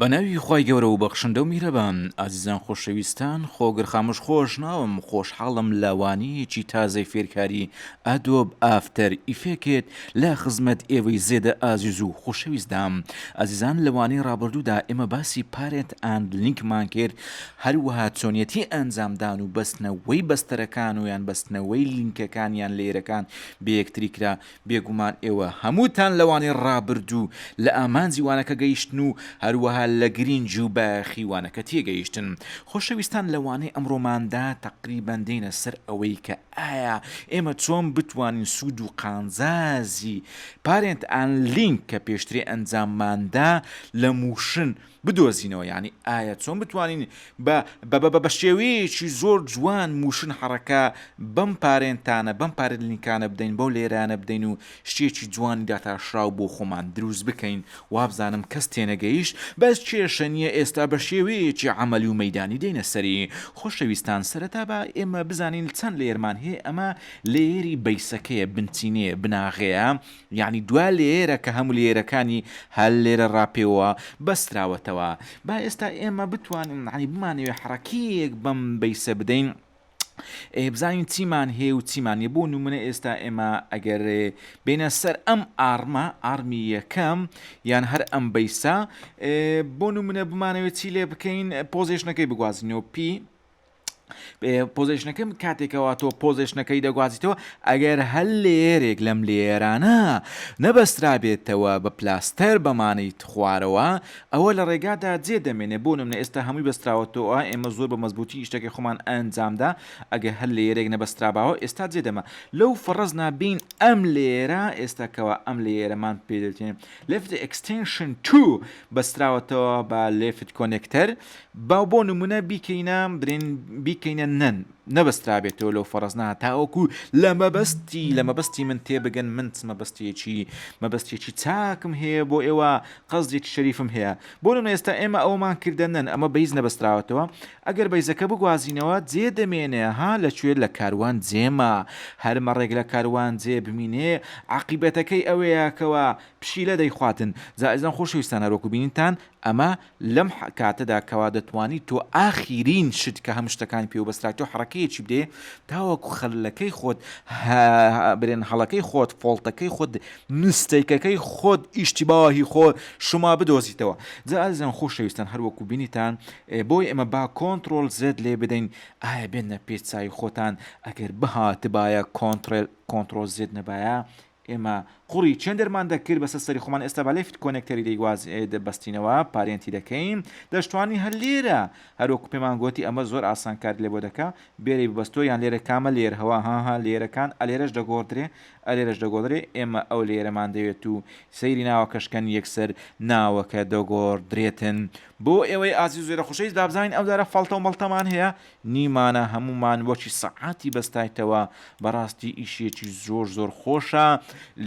بە ناوی خوای گەورە و بەخشندە و میرەبان ئازیزان خۆشەویستان خۆگر خاموش خۆش ناوم خۆشحاڵم لە وانەیەکی تازەی فێرکاری ئەدۆب ئافتەر ئیفێکت لە خزمەت ئێوەی زێدە ئازیز و خۆشەویست دام ئازیزان لە وانەی ڕابردوودا ئێمە باسی پارێت ئەند لینکمان کرد هەروەها چۆنیەتی ئەنجامدان و بەستنەوەی بەستەرەکان و یان بەستنەوەی لینکەکان یان لێرەکان بەیەکتری کرا بێگومان ئێوە هەمووتان لەوانەی ڕابردوو لە ئامانجی وانەکە گەیشتن و هەروەها لە گرینگی و بایەخی وانەکە تێگەیشتن. خۆشەویستان لە وانەی ئەمڕۆماندا تەقریبەن دێینە سەر ئەوەی کە ئایا ئێمە چۆن بتوانین سوود و قانزازی Parent and Link کە پێشترێ ئەنجامماندا لە مووشن بدۆزینەوە یانی ئایا چۆن بتوانین بە بە بە بە بەشێوەیەکی زۆر جوان موشن حەڕەکە بەم پارێنتانە بەم پارێن لینکانە بدەین بەو لێرانە بدەین و شتێکی جوانی داتاشراو بۆ خۆمان دروست بکەین وابزانم کەس تێنەگەیشت بەس کێشە نیە ئێستا بە شێوەیەکی عەمەلی و مەیدانی دێینە سەری خۆشەویستان سەرەتا با ئێمە بزانین چەند لێرمان هەیە ئەمە لێیەری بەیسەکەیە بنچینەیە بناغەیە یەعنی دوا لێیەرە کە هەموو لێیەرەکانی هەر لێرە ڕاپێوە بەستراوەتەوە با ئێستا ئێمە بتوانین یەعنی بمانەوێ حەڕەکەیەک بەم بەیسە بدەین ئێ بزانین چیمان هەیە و چیمان نیە بۆ نمونە ئێستا ئێمە ئەگەر بینە سەر ئەم ئاڕمە ئارمی یەکەم یان هەر ئەم بەیسە بۆ نمونە بمانەوێت چی لێ بکەین پۆزیشنەکەی بگوازینەوە پی پۆزیشنەکەم کاتێکەوە تۆ پۆزیشنەکەی دەگوازیتەوە ئەگەر هەل لێرێک لەم لێرانە نەبەسترابێتەوە بە پلاستەر بەمانەی خوارەوە ئەوە لە ڕێگادا جێ دەمێنێ بۆ نمە ئێستا هەمووی بەستراوەتەوە ئێمە زۆر بە مەزبوتی شتەکە خۆمان ئەنجامدا ئەگە هەل لێرێک نەبەستراباوە ئێستا جێ دەمە لەو فەڕز نابین ئەم لێرە ئێستاکەوە ئەم لێرەمان پێدەێن لفت ئەکسستنشن تو بەستراوەتەوە بە لفت کۆنێکتەر با بۆ نموونە بیکەینە، برێن، بیکەینە نەن، نەبەسترابێتەوە لەو فەڕزنە تاوەکوو لە مەبەستی، لە مەبەستی من تێبگەن، من چ مەبەستێکی، مەبەستێکی چاکم هەیە بۆ ئێوە، قەسدێکی شەریفم هەیە. بۆ نموونە ئێستا ئێمە ئەوەمان کردە نەن، ئەمە بەیز نەبەستراوەتەوە، ئەگەر بەیزەکە بگوازینەوە، جێ دەمێنێ، ها، لە کوێ؟ لە کاروانجێما. هەر مەڕێک لە کاروانجێ بمینێ، عاقیبەتەکەی ئەوەیە کەوا پشیلە دەیخواتن. جا ئیزن خۆشەویستان هەروەکوو بینیتان، ئەمە لەم کاتەدا کەوا دەتوانی تۆ ئاخیرین شت کە هەموو شتەکانی پێوە بەسترا تۆ حەڕەکەیەکی بدەی تاوەکو خەلەکەی خۆت برێن هەڵەکەی خۆت فۆڵتەکەی خۆت نستێکەکەی خۆت ئیشتیباهی خۆ شما بدۆزیتەوە جا ئازیزان خۆشەویستان هەروەکو بینیتان بۆی ئێمە با کۆنتترۆل زێت لێ بدەین ئایا بێنە پێچوی خۆتان ئەگەر بهاتبایە کۆنتترل کۆنتترۆل زێت نەبایە ئێمە قوڕی چێندەرمان دەکرد بەسەر سەری خۆمان ئێستا با لەفت کۆنێکتەری دەیواز بەستینەوە پارێنتی دەکەین دەشتوانی هەر لێرە هەر وەکو پێمان گۆتی ئەمە زۆر ئاسان کارت لێ بۆ دەکا بێرەی ببەستۆ یان لێرە کامە لێر هەوا هاها لێرەکان ئەلێرەش دەگۆڕدرێ ئەلێرەش دەگۆدرێ ئێمە ئەو لێرەمان دەوێت و سەیری ناوەکەش کەن یەکسەر ناوەکە دەگۆڕدرێتن بۆ ئێوەی ئازیزو زێرە خوشەویست دابزانین ئەو دارە فەڵتەو مەڵتەمان هەیە نیمانە هەموومان وەکی سەعاتی بەستایتەوە بەڕاستی ئیشیەکی زۆر زۆر خۆشە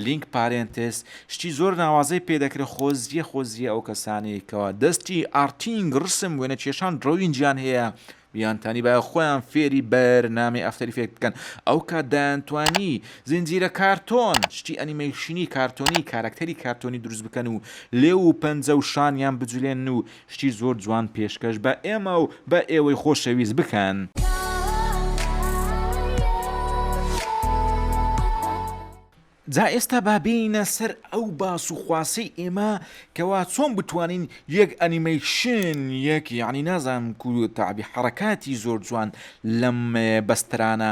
لینک پارێنتێس شتی زۆر ناوازەی پێ دەکرێ خۆزیە خۆزیە ئەو کەسانەی کەوا دەستی ئارتینگ ڕسم وێنە کێشان دڕەوینگیان هەیە بیانتانی بایە خۆیان فێری بەر نامی ئەفتەر ئیفێکت بکەن ئەو کات دایانتوانی زنجیرە کارتۆن شتی ئەنیمەیشنی کارتۆنی کارەکتەری کارتۆنی دروست بکەن و لێو و پەنجە و شانیان بجولێن و شتی زۆر جوان پێشکەش بە ئێمە و بە ئێوەی خۆشەویست بکەن. جا ئێستا با بێینە سەر ئەو باس و خواسەی ئێمە کەوا چۆن بتوانین یەک ئەنیمەیشن یەک یەعنی نازانم کو تەعبی حەڕەکاتی زۆر جوان لەم بەسترانە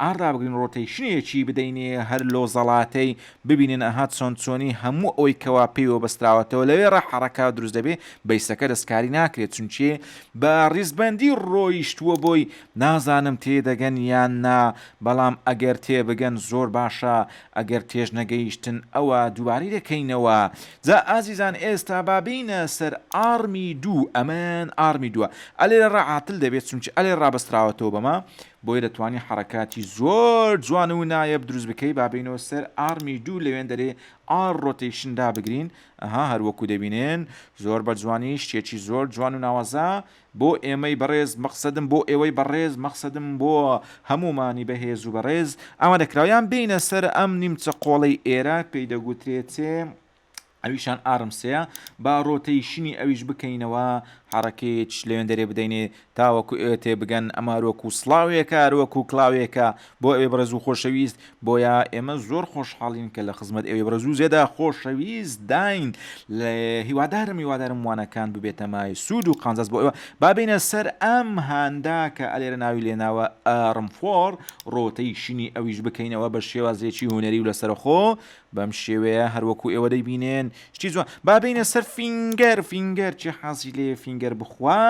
ئان رابگرین رۆتەیشنێکی بدەین هەر لۆ زەڵاتەی ببینن ئەها چۆن چۆنی هەموو ئەوەی کەوا پێیوە بەستراوەتەوە لەوێ رە حەڕەکە دروست دەبێ بەیسەکە دەستکاری ناکرێت چونکێ بە ریزبەندی رۆیشتووە بۆی نازانم تێ دەگەن یان نا بەڵام ئەگەر تێ بگەن زۆر باشە ئەگەر تێش نەگەیشتن ئەوە دووبارەی دەکەینەوە جا ئازیزان ئێستا با بێینە سەر ئاڕمی دوو ئەمەن ئاڕمی دووە ئەلێ رە عاتل دەبێت چونکێ ئەلێ رابەستراوەتەوە بەمە بۆیە دەتوانی حەڕەکاتی زۆر جوان و نایەب دروست بکەی با بێینەوە سەر ئاڕمی دوو لەوێندەرەی ئاڕ ڕۆتەیشن دابگرین ئەها هەر وەکو دەبینن زۆر بە جوانی شتێکی زۆر جوان و ناوازە بۆ ئێمەی بەڕێز مەقسەدم بۆ ئێوەی بەڕێز مەقسەدم بۆ هەموومانی بەهێز و بەڕێز ئامادەکراو یان بێینە سەر ئەم نیمچە قۆڵەی ئێرە پێی دەگوترێتێ ئەویشان ئارم سێە با رۆتەی شنی ئەویش بکەینەوە حەڕەکەیچ لەوێندەرێ بدەینێ تاوەکو ئێوە تێ بگەن ئەمەروەکو سڵاوێکە روەکو کڵاوێکە بۆ ئەوێ بڕێزو خۆشەویست بۆیە ئێمە زۆر خۆشحاڵین کە لە خزمەت ئەوێ بڕێزو زێدە خۆشەویست داین لە هیوادارم هیوادارم وانەکان ببێتە مای سوود و قانزاز بۆ ئەوە بابینە سەر ئەم هاندا کە ئەلێرە ناوی لێناوە ئارم فۆر رۆتەی شنی ئەویش بکەینەوە بە شێوازێکی هوەری و لەسەرخۆ و بەم شێوەیە هەروەکو ئێوە دەیبینێن شتی جوان با بینە سەر فینگەر فینگەر چی حازی لێ فینگەر بخوا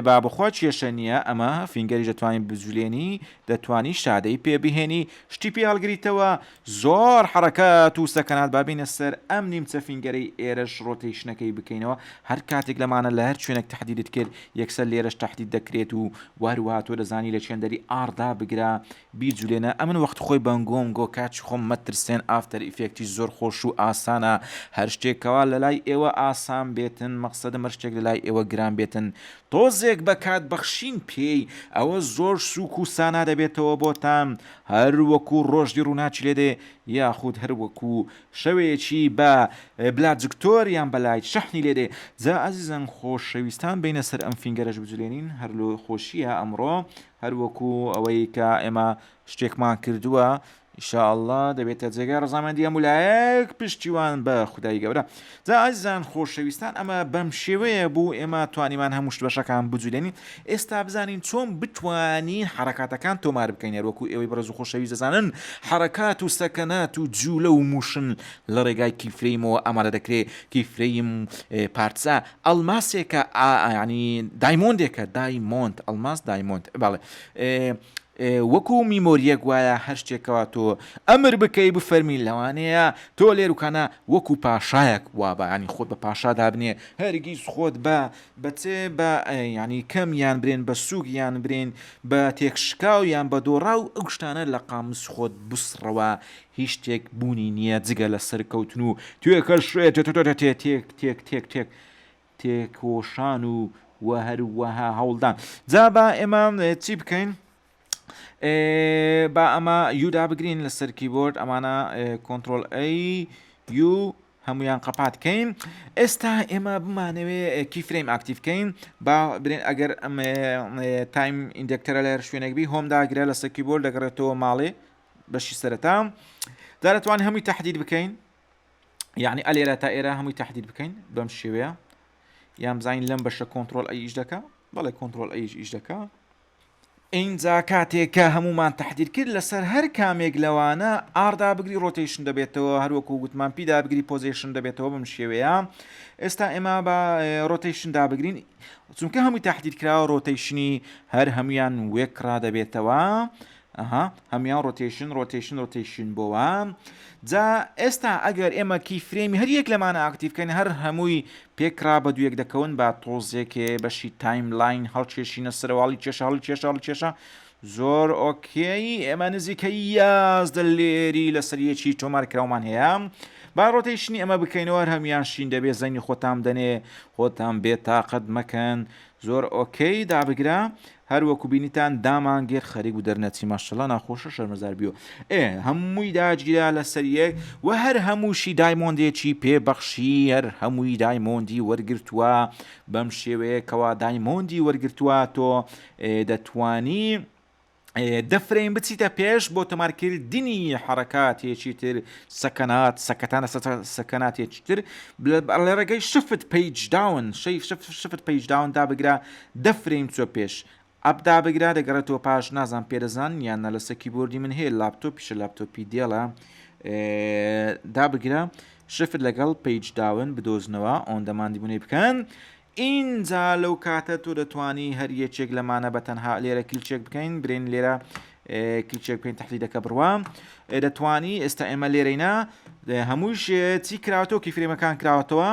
با بخوا کێشە نییە ئەمە فینگەری دەتوانین بجولێنی دەتوانی شادەی پێ بهێنی شتی پێ هەڵگریتەوە زۆر حرەکە تووسەکەنات بابینە سەر ئەم نیمچە فینگەری ئێرەش ڕۆتیشنەکەی بکەینەوە هەر کاتێک لەمانە لە هەر شوێنێک تهدیدت کرد یەکسەر لێرەش تهدید دەکرێت و وهروهاتۆ دەزانی لە چێندەری ئاردا بگرە بیجولێنە ئەمن وەخت خۆی بەنگۆم گۆ کاچ خۆم مەترسێن ئافتەر ئیفێکتیش زۆر خۆش و ئاسانە هەر شتێک کەوا لەلای ئێوە ئاسان بێتن مەقسەدم هەر شتێک لەلای ئێوە گران بێتن تۆزێک بە کات بەخشین پێی ئەوە زۆر سوک و سانا دەبێتەوە بۆتان هەر وەکو ڕۆژی ڕوناکی لێدێ یاخود هەر وەکو شەوێکی بە بلا جکتۆر یان بە لایت شەحنی لێدێ جا ئەزیزەن خۆشەویستان بێینە سەر ئەم فینگەرەش بجولێنین هەر لۆ خۆشیە ئەمڕۆ هەر وەکو ئەوەی کە ئێمە شتێکمان کردووە ئیشاءاللە دەبێتە جێگای ڕزامەندی هەموو لایەک پشتیوان بە خودای گەورە جا ئازیزان خۆشەویستان ئەمە بەم شێوەیە بوو ئێمە توانیمان هەموو شت بەشەکان بجولێنین ئێستا بزانین چۆن بتوانین حرکاتەکان تۆمار بکەین هەروەکو ئێوەی بەڕێز و خۆشەویست دەزانن حرکات و سەکەنات و جوولە و موشن لە ڕێگای کیفرەیمەوە ئامادە دەکرێت کیفرەیم پارتسا ئەڵماسێکە ئا یانی دایمۆندێکە دای مۆند ئەڵماس دایمۆند بەڵێ ئێ ئێ وەکوو میمۆریەک وایە هەر شتێکەوە تۆ ئەمر بکەی بفەرمی لەوانەیە تۆ لێروکانە وەکوو پاشایەک وا بە یانی خۆت بە پاشا دابنێ هەرگیز خۆت بە بە چێ بە ئێ یانی کەم یان برێن بە سووک یان برێن بە تێکشکاو یان بە دۆڕاو ئەو شتانە لە قاموس خۆت بسڕەوە هیچ شتێک بوونی نیە جگە لە سەرکەوتن و توێکەشێتێکتێکتێکتێکتێک تێکۆشان و وە هەروەها هەوڵدان جا با ئێمە چی بکەین؟ با ئەمە یودا بگرین لە سەرکی بۆرد ئەمانە کۆنتترۆل ئەی یو هەمویان قەپاتکەین ئێستا ئێمە بمانەوێ کی فرەیم ئاکتیفکەین با برێن ئەگەر ئەم تایم ئیندکتەرە لە هەر شوێنێک بی هۆم داگرە لە سەرکی بۆرد دەگەڕێتەوە ماڵێ بەشی سەرەتا جا دەتوان هەمووی تهدید بکەین یعنی ئەلێرە تا ئێرە هەمووی تهدید بکەین بەم شێوەیە یان بزانین لەم بەشە کۆنتترۆل ئەیش دەکە بەڵێ کۆنتترۆل ئەیش ئیش دەکە ئینجا کاتێکە هەمومان تهدید کرد لەسەر هەر کامێک لەوانە ئاردا بگری ڕۆتیشن دەبێتەوە هەروەکو گوتمان پیدا بگری پۆزیشن دەبێتەوە بم شێوەیە ئێستا ئێمە بە ڕۆتیشن دابگرین چونکە هەمووی تهدید کراوە ڕۆتیشنی هەر هەمویان وێکرا دەبێتەوە ئەها هەموان ڕۆتەیشن ڕۆتەیشن ڕۆتەیشن بۆوە جا ئێستا ئەگەر ئێمە کی فرێمی هەر یەک لەمانە ئاکتیڤکەین هەر هەمووی پێکرا بە دوویەک دەکەون با تۆزێکێ بەشی تایم لاین هەڵکێشینە سەرواڵی کێشە هەڵ کێشە هەڵ کێشە زۆر ئۆکێی ئێمە نزیکە یازدە لێری لەسەر یەکی تۆمار کراومان هەیە با ڕۆتەیشنی ئەمە بکەینەوە هەمیان شین دەبێ زەنگی خۆتان دەنێ خۆتان بێ تااقەت مەکەن زۆر ئۆکەی دابگرە هەر وەکو بینیتان دامان گێر خەریک بوو دەرنەچی ماشەڵا ناخۆشە شەرمەزار بیۆ ئێ هەمووی داجگرا لەسەر یەک وە هەر هەمووشی دایمۆندێکی پێ بەخشی هەر هەمووی دایمۆندی وەرگرتوە بەم شێوەیە کەوا دایمۆندی وەرگرتوە تۆ دەتوانی دەفرین بچیتە پێش بۆ تۆمارکردنی حرەکاتێکی تر سەکەنات سەکەتانە سەکەناتێکی تر لە ڕێگەی شفت پیج داون شەی شفت پیج داون دابگرە دە فرەیم چوە پێش ئەپ دابگرە دەگەڕێتەوە پاش نازانم پێدەزان یان نا لەسە کیبۆردی من هەیە لاپتۆپیشە لاپتۆپی دێڵە دابگرە شفت لەگەڵ پیج داون بدۆزنەوە ئۆندەماندی بونەی بکەن ئینجا لەو کاتە تۆ دەتوانی هەر یەکێک لەمانە بە تەنها لێرە کلچێک بکەین برین لێرە کلچێک بکەین تحلیدەکە بڕوا دەتوانی ئێستا ئێمە لێرەینا هەمووش چی کراوەتەوە کی فرێمەکان کراوەتەوە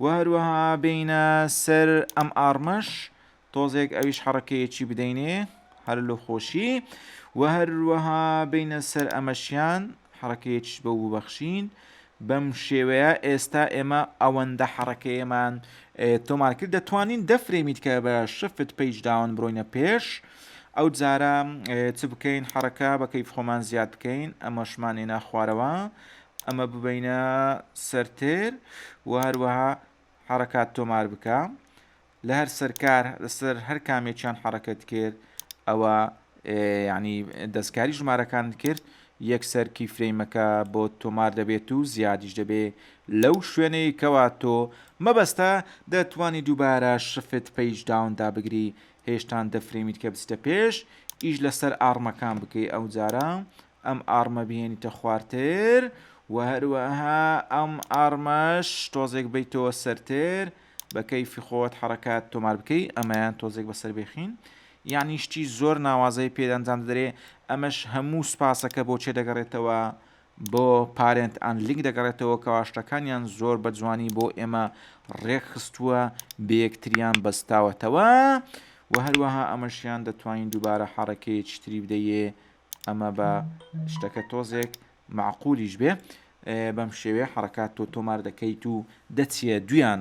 و هەروەها بێینە سەر ئەم ئاڕمەش تۆزێک ئەویش حەڕەکەیەکی بدەینێ هەر لە خۆشی و هەروەها بینە سەر ئەمەشیان حەڕەکەیەکیش بە وبەخشین بەم شێوەیە ئێستا ئێمە ئەوەندە حەڕەکەیەمان تۆمار کرد دەتوانین دەفرێمیت کە بە شفت پیج داون برۆینە پێش ئەو جارە چ بکەین حەڕەکە بەکەی خۆمان زیاد بکەین ئەمەشمانێ ناخوارەوە ئەمە ببەینە سەر تێر و هەروەها حرەکات تۆمار بکە لە هەر سەرکار لەسەر هەر کامێکیان حرەکەت کرد ئەوە ینی دەستکاری ژمارەکان کرد یەک سەرکی فرەیمەکە بۆ تۆمار دەبێت و زیادیش دەبێ لەو شوێنەی کەوا تۆ مەبەستە دەتوانی دووبارە شفت پێیج داوندا بگری هێشتان دەفرەیمیت کە بچتە پێش ئیش لەسەر ئاڕمەکان بکەی ئەو جارە ئەم ئاڕمە بهێنیتە خوارتر و هەروەها ئەم ئاڕمەش تۆزێک بیتەوە سەرتر بە کەیفی خۆت حرەکات تۆمار بکەی ئەمەیان تۆزێک بەسەر بێخین یعنی شتی زۆر ناوازەی پێدەنجام دەدرێ ئەمەش هەموو سپاسەکە بۆ چێ دەگەڕێتەوە بۆ پارێنت ئەن لینک دەگەڕێتەوە کەواشتەکانیان زۆر بە جوانی بۆ ئێمە ڕێکخستووە بەیەکتریان بەستاوەتەوە و هەروەها ئەمەشیان دەتوانین دووبارە حڕەکەیەکی تری بدەیێ ئەمە بە شتەکە تۆزێک معقولیش بێ بەم شێوێ حرکات تۆ تۆمار دەکەیت و دەچیە دویان.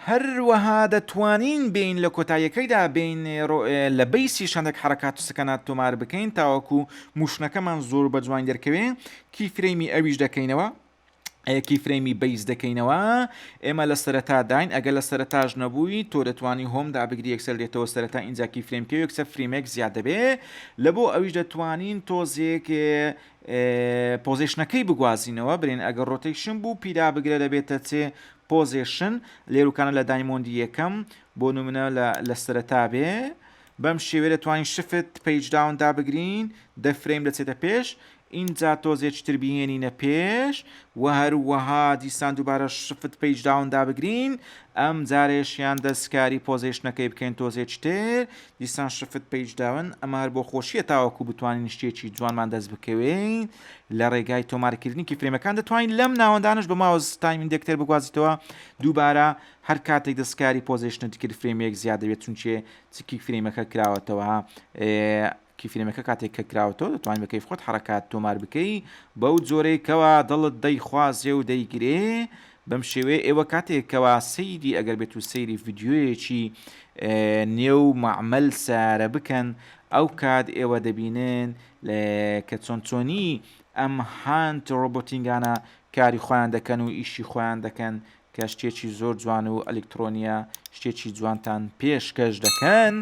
هەروەها دەتوانین بین لە کۆتاییەکەیدا بین لە بیسی شەندێک حرکات و سکەنات تۆمار بکەین تاوەکو موشنەکەمان زۆر بە جوان دەرکەوێ کی فرەیمی ئەویش دەکەینەوە کیفرەیمی بەیس دەکەینەوە ئێمە لە سەرەتاداین ئەگە لە سەرەتاش نەبووی تۆ دەتوانی هۆم دابگری یەکسەر دێتەوە سەرەتا ئینجا کیفرەیم پێ یەکسەر فریمێک زیاد دەبێ لە بۆ ئەویش دەتوانین تۆزێک پۆزیشنەکەی بگوازینەوە برێن ئەگەر ڕۆتەیشن بوو پیدا بگرە دەبێتە چێ پۆزیشن لێروکانە لە دایمۆندی یەکەم بۆ نمونە لە سەرەتا بێ بەم شێوێ دەتوانین شفت پیج داون دابگرین دەفرەیم دەچێتە پێش ئینجا تۆزێ چتر بیهێنینە پێش وە هەروەها دیسان دوبارە شفت پەیج داون دابگرین ئەم جارەیشیان دەستکاری پۆزێشنەکەی بکەین تۆزێ چتر دیسان شفت پەیج داون ئەمە هەر بۆ خۆشیە تاوەکو بتوانین شتێکی جوانمان دەست بکەوێین لە ڕێگای تۆمارکردنی کیفرێمەکان دەتوانین لەم ناوەندانەش بە ماوس تایم ئیندێکتەر بگوازیتەوە دوبارە هەر کاتێک دەستکاری پۆزێشنت کرد فرێمێک زیاد دەبێت چونچێ چکی فرێمەکە کراوەتەوە کیفرێمەکە کاتێک کە کراوەتەوە دەتوانی بە کەیف خۆت حەڕەکات تۆمار بکەی بەو جۆرەی کەوا دڵت دەیخوازێ و دەیگرێ بەم شێوەیە ئێوە کاتێک کەوا سەیری ئەگەر بێت و سەیری ڤیددیویەکی نێو معمل سارە بکەن ئەو کات ئێوە دەبینن کە چۆن چۆنی ئەم هاند ڕۆبۆتینگانە کاری خۆیان دەکەن و ئیشی خۆیان دەکەن کە شتێکی زۆر جوان و ئەلکترۆنیە شتێکی جوانتان پێشکەش دەکەن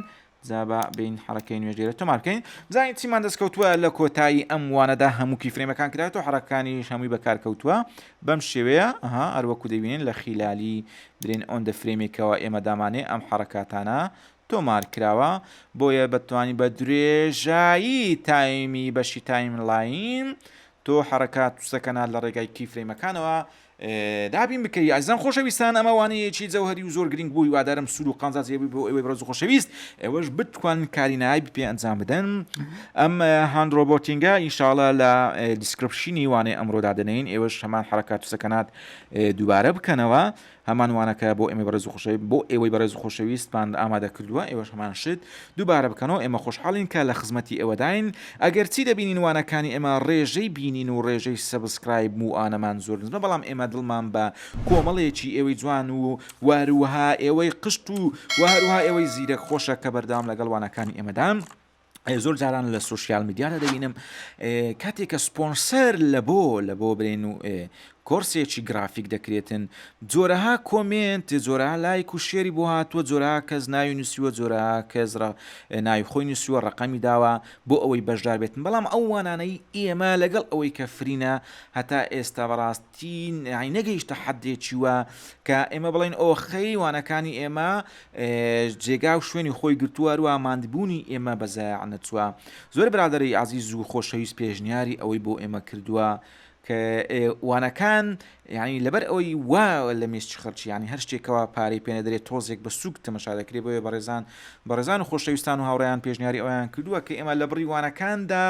جا با بێین حەڕەکەی نوێژ لێرە تۆمار بکەین بزانین چیمان دەستکەوتووە لە کۆتایی ئەم وانەدا هەموو کیفرێمەکان کرایەوە حەڕەکانیش هەمووی بەکارکەوتووە بەم شێوەیە ئەها هەروەکو دەبینین لە خیلالی برێن ئۆن دە فرێمێکەوە ئێمە دامانێ ئەم حەڕەکاتانە تۆمار کراوە بۆیە بەتوانی بە درێژایی تایمی بەشی تایم لاین تۆ حەڕەکات توسەکەنا لە ڕێگای کیفرێمەکانەوە دابین بکەی ئازیزان خۆشەویستان ئەمە وانەیەکی جەوهری و زۆر گرنگ بوو هیوادارم سوود و قازاجی بووی بۆ ئێوەی بەڕێز و خۆشەویست ئێوەش بتوان کاری نایب پێ ئەنجام بدەن ئەم هاند ڕۆبۆتینگە ئینشاڵە لە دیسکرپشنی وانەی ئەمڕۆ دادەنین ئێوەش هەمان حرکات و سەکنات دووبارە بکەنەوە هەمان وانەکە بۆ ئێمە بەڕێز و خۆشەوی بۆ ئێوەی بەڕێز و خۆشەویستمان ئامادە کردووە ئێوەش هەمان شت دوبارە بکەنەوە ئێمە خۆشحاڵین کە لە خزمەتی ئێوەداین ئەگەر چی دەبینین وانەکانی ئێمە ڕێژەی بینین و ڕێژەی سەبسکرایب و ئانەمان زۆر نزمە بەڵام ئێمە دڵمان بە کۆمەڵێکی ئێوەی جوان و وهروها ئێوەی قشت و وهروها ئێوەی زیرەک خۆشە کە بەردەوام لەگەڵ وانەکانی ئێمەدان زۆر جاران لە سوسیال میدیادا دەبینم کاتێک کە سپۆنسەر لە بۆ لە بۆ برێن و کۆرسێکی گرافیک دەکرێتن جۆرەها کۆمێنت جۆرەها لایک و شێری بۆ هاتووە جۆرەها کەس ناوی نووسیوە جۆرەها کەس ڕە ناوی خۆی نووسیوە ڕەقەمی داوە بۆ ئەوەی بەشدار بێتن بەڵام ئەو وانانەی ئێمە لەگەڵ ئەوەی کە فرینە هەتا ئێستا بەڕاستی نەی نەگەیشتە حەدێکی وە کە ئێمە بڵێن ئۆخەی وانەکانی ئێمە جێگا و شوێنی خۆی گرتووە هەروە ماندبوونی ئێمە بەزایع نەچووە زۆر برادەرەی ئازیز و خۆشەویست پێشنیاری ئەوەی بۆ ئێمە کردووە کە ئێ وانەکان یانی لەبەر ئەوەی وا لە میسچ خەرچی یانی هەر شتێکەوە پارەی پێنەدرێت تۆزێک بە سووک تەمەشا دەکرێت بۆیە بەڕێزان بەڕێزان و خۆشەویستان و هاوڕێیان پێشنیاری ئەویان کردووە کە ئێمە لە بڕی وانەکاندا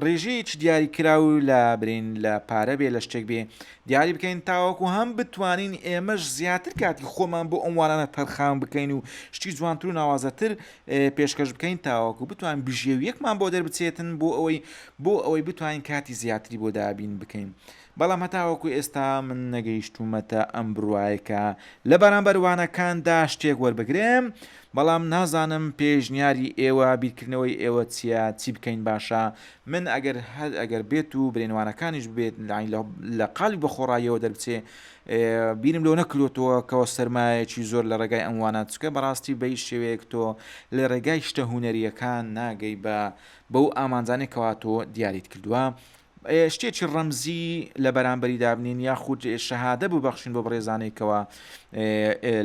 ڕێژەیەکی دیاری کراو لە برین لە پارە بێ لە شتێک بێ دیاری بکەین تاوەکو هەم بتوانین ئێمەش زیاتر کاتی خۆمان بۆ ئەم وانانە تەرخان بکەین و شتی جوانتر و ناوازەتر پێشکەش بکەین تاوەکو بتوان بژێویەکمان بۆ دەربچێتن بۆ ئەوەی بۆ ئەوەی بتوانین کاتی زیاتری بۆ دابین بکەین بەڵام هەتاوەکو ئێستا من نەگەیشتومەتە ئەم بڕواایکە لە بەرامبەر وانەکاندا شتێک وەربگرم بەڵام نازانم پێشنیاری ئێوە بیرکردنەوەی ئێوە چیە چی بکەین باشە من ئەگەر هەر ئەگەر بێت و برێنوانەکانیش بێت لە قالی بەخۆڕایەوە دەربچێ بیرم لەوە نەکرۆتەوە کەەوە سەرمایەکی زۆر لە ڕێگای ئەم وانە چکە بەڕاستی بەی شێوەیەک تۆ لە ڕێگای شتە هوەریەکان ناگەی بە بەو ئامانجانێک کەواتۆ دیاریت کردووە شتێکی ڕەمزی لە بەرامبەری دابنین یاخود شەهادە بوو بەخشین بۆ بڕێزانێکەوە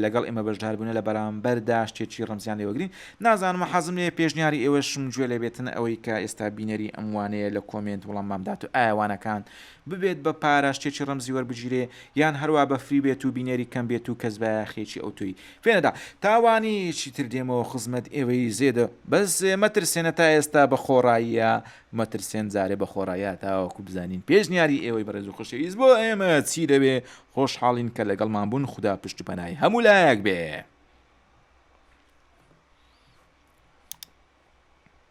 لەگەڵ ئێمە بەشدار بوون لە بەرامبەردا شتێکی ڕەمزیان لێوەگرین نازانم حەزم لێ پێشنیاری ئێوەشم گوێ لێ بێتن ئەوەی کە ئێستا بینەری ئەموانەیە لە کۆمنت وڵاممامدات و ئاوانەکان ببێت بە پاراشچێکی ڕەمزی وەربگیرێ یان هەروا بە فری بێت و بینەری کەم بێت و کەس بایاخێکی ئەوتۆی پێ نەدا تا وانیە یەکی تر دێمەوە خزمەت ئێوەی زێدە بەس مەترسێنە تا ئێستا بە خۆڕاییە مەترسێن جارێ بە خۆڕاییە تاوەکو بزانین پێشنیاری ئێوەی بەڕێز و خۆشەویست بۆ ئێمە چی دەبێ خۆشحاڵین کە لەگەڵمان بوون خودا پشت و پەنای هەموو لایەک بێ.